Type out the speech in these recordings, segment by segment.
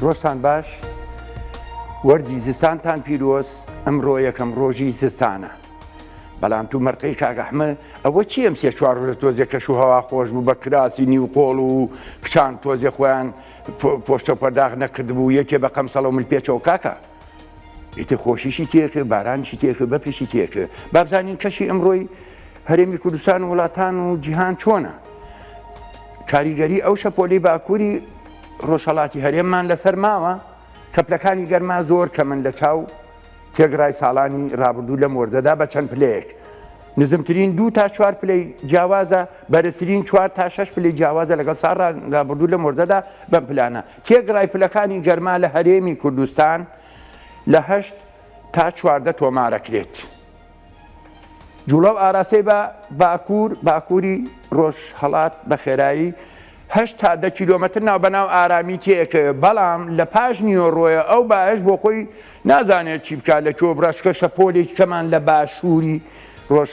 ڕۆژتان باش وەرزی زستانتان پیرۆز ئەمڕۆ یەکەم ڕۆژی زستانە بەڵام تو مەرقەی کاگەحمە ئەوە چی ئەم سێ چوار ڕۆژە تۆزێ کەش و هەوا خۆش بوو بە کراسی نیو قۆڵ و کچان تۆزێ خۆیان پۆشتە پەرداغ نەکردبوو یەکێ بە قەمسەڵە من پێچەوە کاکە ئیتر خۆشیشی تێکرد، بارانیشی تێکرد، بەفریشی تێکرد. با بزانین کەشی ئەمڕۆی هەرێمی کوردستان و وڵاتان و جیهان چۆنە؟ کاریگەری ئەو شەپۆلی باکووری ڕۆژهەڵاتی هەرێممان لەسەر ماوە، کەپلەکانی گەرما زۆر کەمن لە چاو تێگڕای ساڵانی ڕابردوو لەم وەرزەدا بە چەند پلەیەک. نزمترین دوو تا چوار پلەی جیاوازە، بەرزترین چوار تا شەش پلەی جیاوازە لەگەڵ ساڵانی ڕابردوو لەم وەرزەدا بەم پلانە. تێکڕای پلەکانی گەرما لە هەرێمی کوردستان لە هەشت تا چواردە تۆمارەکرێت. جوڵە و ئاراستەی بە باکوور باکووری ڕۆژهڵات بە خێرایی هەشت تا دە کیلۆمەتر ناو بەناو ئارامی تێکەوێت بەڵام لە پاش نیوەڕۆیە ئەو باش بۆ خۆی نازانێت چی بکات لە کۆ بڕاشکە شەپۆلێک کەمان لە باشووری ڕۆژ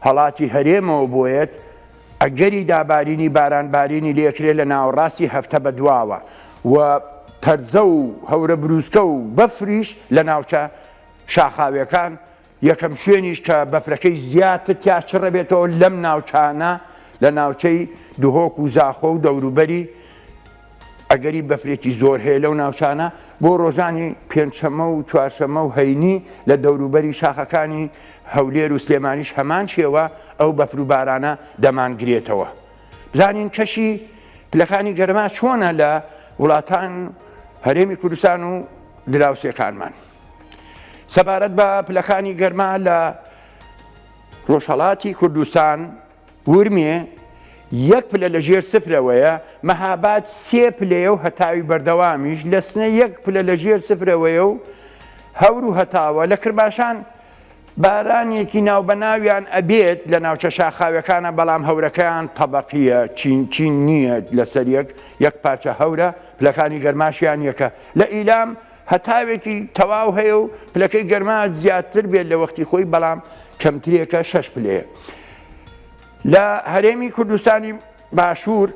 هەڵاتی هەرێمەوە بۆێت ئەگەری دابارینی باران بارینی لێکرێ لە ناوەڕاستی هەفتە بە دواوە و تەرزە و هەورە بروسکە و بەفریش لە ناوچە شاخاویەکان یەکەم شوێنیش کە بەفرەکەی زیاتر تیا چڕەبێتەوە لەم ناوچانە لە ناوچەی دهۆک و زاخۆ و دەوروبەری ئەگەری بەفرێکی زۆر هەیە لەو ناوچانە بۆ ڕۆژانی پێنجشەممە و چوارشەممە و هەینی لە دەوروبەری شاخەکانی هەولێر و سلێمانیش هەمان شێوە ئەو بەفروبارانە دەمانگرێتەوە. بزانین کەشی پلەکانی گەرما چۆنە لە وڵاتان هەرێمی کوردستان و دراوسێکانمان. سەبارەت بە پلەکانی گەرما لە ڕۆژهڵاتی کوردستان ورمێ یەک پلە لە ژێر سفرەوەیە، مەهاباد سێ پلەیە و هەتاوی بەردەوامیش، لە سنە یەک پلە لە ژێر سفرەوەیە و هەور و هەتاوە، لە کرماشان بارانێکی ناوبەناویان ئەبێت لە ناوچە شاخاویەکانە بەڵام هەورەکەیان تەبەقیە چین چین نییە لەسەر یەک یەک پارچە هەورە، پلەکانی گەرماشیان یەکە لە ئیلام، هەتاوێکی تەواو هەیە و پلەکەی گەرما زیاتر بێت لە وەختی خۆی بەڵام کەمترێکە شەش پلەیە. لە هەرێمی کوردستانی باشوور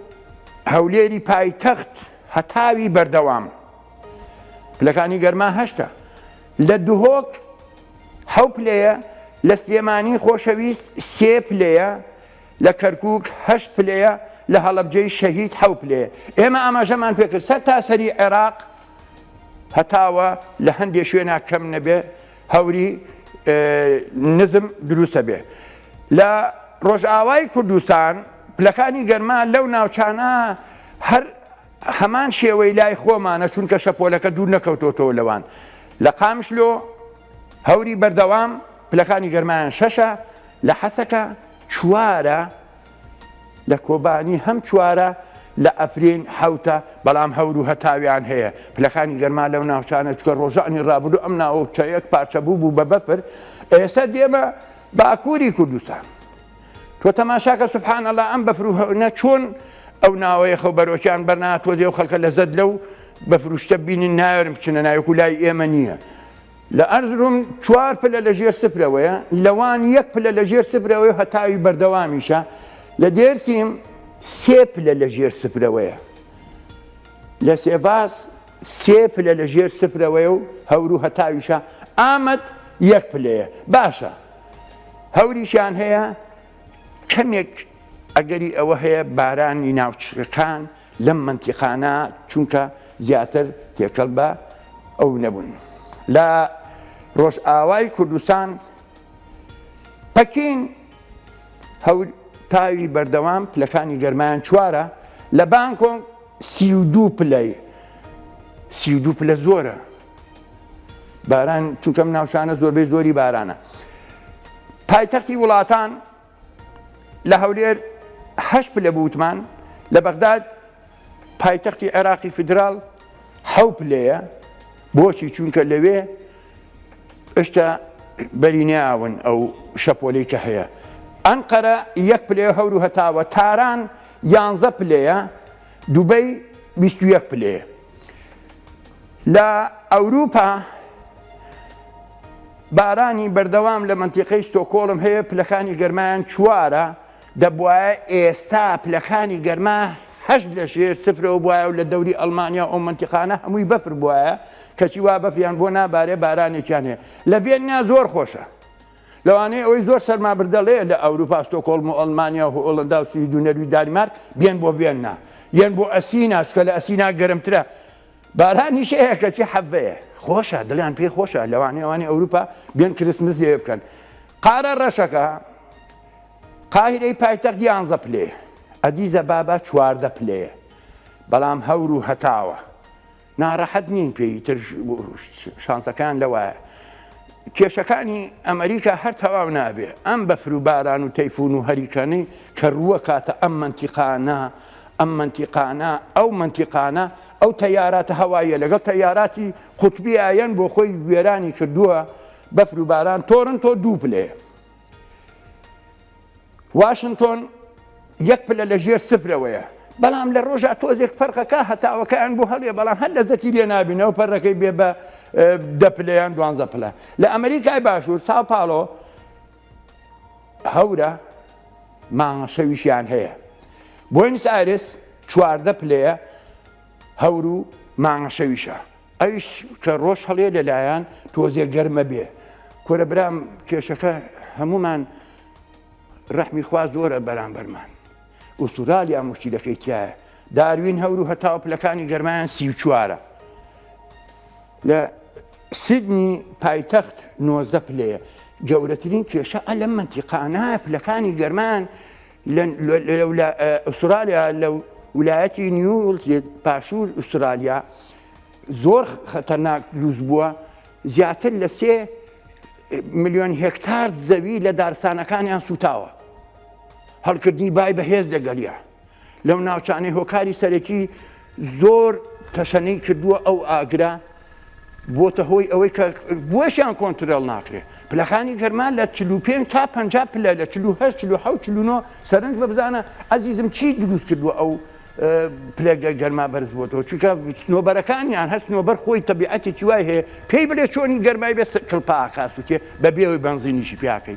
هەولێری پایتەخت هەتاوی بەردەوام پلەکانی گەرما هەشتا لە دهۆک حەو پلەیە لە سلێمانی خۆشەویست سێ پلەیە لە کەرکک هەشت پلەیە لە هەڵبجەی شەهید حەو پلەیە ئێمە ئاماژەمان پێکرد سەر تاسەری عێراق هەتاوە لە هەندێک شوێنا کەم نەبێ هەوری نزم دروستە بێ لە ڕۆژئاوای کوردستان پلەکانی گەرما لەو ناوچانە هەر هەمان شێوەی لای خۆمانە چونکە شەپۆلەکە دوور نەکەوتۆتەوە لەوان لە قامشلۆ هەوری بەردەوام پلەکانی گەرمایان شەشە لە حەسەکە چوارە لە کۆبانی هەم چوارە لە ئەفرین حەوتە، بەڵام هەور و هەتاویان هەیە. پلەکانی گەرما لەو ناوچانە چکە ڕۆژانی ڕابردوو ئەم ناوچە یەک پارچە بووبوو بە بەفر، ئێستا دێمە باکووری کوردستان. تۆ تەماشاکە سبحان اللە ئەم بەفر و هەونە چۆن ئەو ناوەیە خەو بەرۆکیان بەرناتۆزێ و خەلکە لەزەت لەو بەفروشتە بینن ناوێرن بچنە ناوێکو لای ئێمە نییە. لە ئەرزروم چوار پلە لە ژێر سفرەوەیە، لە وان یەک پلە لە ژێر سفرەوەیە و هەتاوی بەردەوامیشە، لە دێرسیم سێ پلە لە ژێر سفرەوەیە، لە سێڤاس سێ پلە لە ژێر سفرەوەیە و هەور و هەتاویشە، ئامەد یەک پلەیە. باشە هەوریشیان هەیە، کەمێک ئەگەری ئەوە هەیە بارانی ناوچەکان لەم مەنتیقانە چونکە زیاتر تێکەڵ بە ئەو نەبوون لە ڕۆژئاوای کوردستان پەکین هەول تاوی بەردەوام پلەکانی گەرمایان چوارە لە بانکۆنگ سی و دوو پلەی سی و دوو پلە زۆرە باران چونکەم ناوچانە زۆربەی زۆری بارانە پایتەختی وڵاتان لە هەولێر هەشت پلە بوتمان لە بەغداد پایتەختی عێراقی فیدرال حەو پلەیە بۆچی چونکە لەوێ ئشتا بەری ناون ئەو شەپۆلی کە هەیە ئەنقەرە یەک پلێ هەور و هەتاوە تاران یانزە پلەیە دوبەی 21 پلەیە لە ئەوروپا بارانی بەردەوام لە مەنتیقەی ستۆکۆڵم هەیە پلەکانی گەرمایان چوارە دەبواە ئێستا پلەکانی گەرما هەش لە ژێر سفرەوە بواە و لە دەوری ئەلمانیا ئەو منتیقانە هەمووی بەفر بواە کەچی وا بەفریان بۆ نابارێ بارانێکیان هەیە لە ڤێننا زۆر خۆشە لەوانەیە ئەوەی زۆر سەرمابردەڵەیە لە ئەوروپا، ستۆکۆڵم و ئەڵمانیا و هۆڵەندا و سوید و نەرویج دانیمارک بێن بۆ ڤێننا یەن بۆ ئەسینا چکە لە ئەسینا گەرمترە بارانیش هەیە کەچی حەڤەیە خۆشە دڵیان پێی خۆشە لەوانەیە ئەوانی ئەوروپا بێن کریسمس لێ بکەن قارە ڕەشەکە قاهیرەی پایتەخت یانزە پلەیە ئەدیزە بابا چواردە پلەیە بەڵام هەور و هەتاوە ناڕەحەت نین پێ ئیتر شانسەکان لەوایە. کێشەکانی ئەمریکا هەر تەواو نابێ ئەم بەفر و باران و تەیفون و هەریکەنەی کە ڕووە کاتە ئەم منتیقانە ئەم منتیقانە ئەو منتیقانە ئەو تەیاراتە هەواییە لەگەڵ تەیاراتی قوتبی ئایەن بۆ خۆی وێرانی کردووە بەفر و باران تۆرن تۆ دوو پلەیە واشنتۆن یەک پلە لە ژێر سفرەوەیە بەڵام لە ڕۆژە تۆزێک فەرقەکە هەتاوەکەیان بۆ هەڵێ بەڵام هەر لەزەتی لێ نابینەوە پەرەکەی بێ بە دەپلیان دوانزە پلە لە ئەمریکای باشوور تا پاڵۆ هەورە ماوە شەویشیان هەیە بۆینس ئارس چواردە پلەیە هەور و مانگە شەویشە ئەویش کە ڕۆژ هەڵێ لەلایەن تۆزێ گەرمە بێ کورە برام کێشەکە هەمومان ڕەحمی خوا زۆرە بەرامبەرمان ئوستورالیا مشتیلەکەی تایە داروین هەور و هەتاو پلەکانی گەرمایان سی چوارە لە سیدنی پایتەخت 90 پلەیە گەورەترین کێشە ئە لەم منتیقانایە پلەکانی گەرمان لە ئوسترالیا لە ولایەتی نیوڵتێت پاشور ئوسترالیا زۆر خەتەناک دروست بووە زیاتر لە سێ میلیۆن هکتار زەوی لە دارستانەکانیان سوتاوە هەڵکردنی بای بەهێز لەگەڵە لەو ناوچانەی هۆکاری سەرەکی زۆر تەشەنەی کردووە ئەو ئاگرە، بۆتە هۆی ئەوەی کە بۆشیان کۆنترۆڵ ناکرێت. پلەکانی گەرما لە چل و پێنج تا پەنجا پلە لە چل و هەشت، چل و حەوت، چل و نۆ سەرنج بە بزانە ئەزیزم چی دروست کردووە ئەو پلە گەرما بەرز بۆتەوە چونکە سنۆبەرەکانیان هەر سنۆبەر خۆی تەبیعەتێکی وای هەیە پێی بلێ چۆنی گەرمای بێ کڵپاکا سوتێ بەبێ ئەوەی بەنزینیشی پێاکەی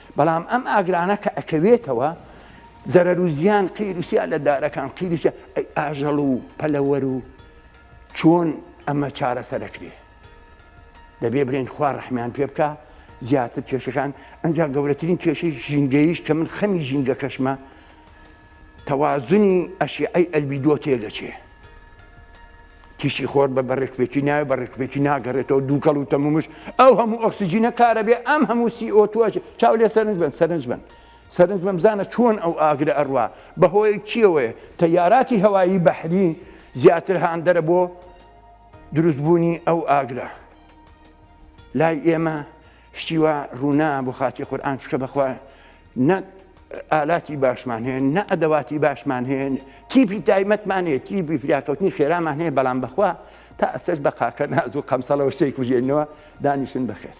بەڵام ئەم ئاگرانە کە ئەکەوێتەوە زەرەر و زیان قیر و سیا لە دارەکان قیر و سیا ئەی ئاژەڵ و پەلەوەر و چۆن ئەمە چارەسەر ئەکرێ؟ دەبێ بڵێن خوا ڕەحمیان پێ بکا زیاتر کێشەکان ئەنجا گەورەترین کێشەی ژینگەیش کە من خەمی ژینگەکەشمە تەوازنی ئەشیعەی ئەلبیدۆ تێدەچێ. تیشکی خۆر بە بەڕێکپێکی ناوێ بەڕێکپێکی ناگەڕێتەوە دووکەڵ و تەمومش ئەو هەموو ئۆکسسیجینە کارە بێ ئەم هەموو سیئۆتوەش چاو لێ سەرنج بن سەرنج بن سەرنج بەمزانە چۆن ئەو ئاگرە ئەڕوا بەهۆی چیەوەیە تەیاراتی هەوایی بەحری زیاتر هاندەرە بۆ دروستبوونی ئەو ئاگرە لای ئێمە شتی وا ڕوونا بۆ خاتی قورآان چکە بەخوا نە ئالاتی باشمان هەیە نە ئەدەواتی باشمان هەیە تیپی تایمەتمان هەیە تیپی فریاکەوتنی خێرامان هەیە بەڵام بەخوا تا ئەسەر بە قاکە ناز و قەمسەڵەوە شتێک کوژێنەوە دانیشن بخێت.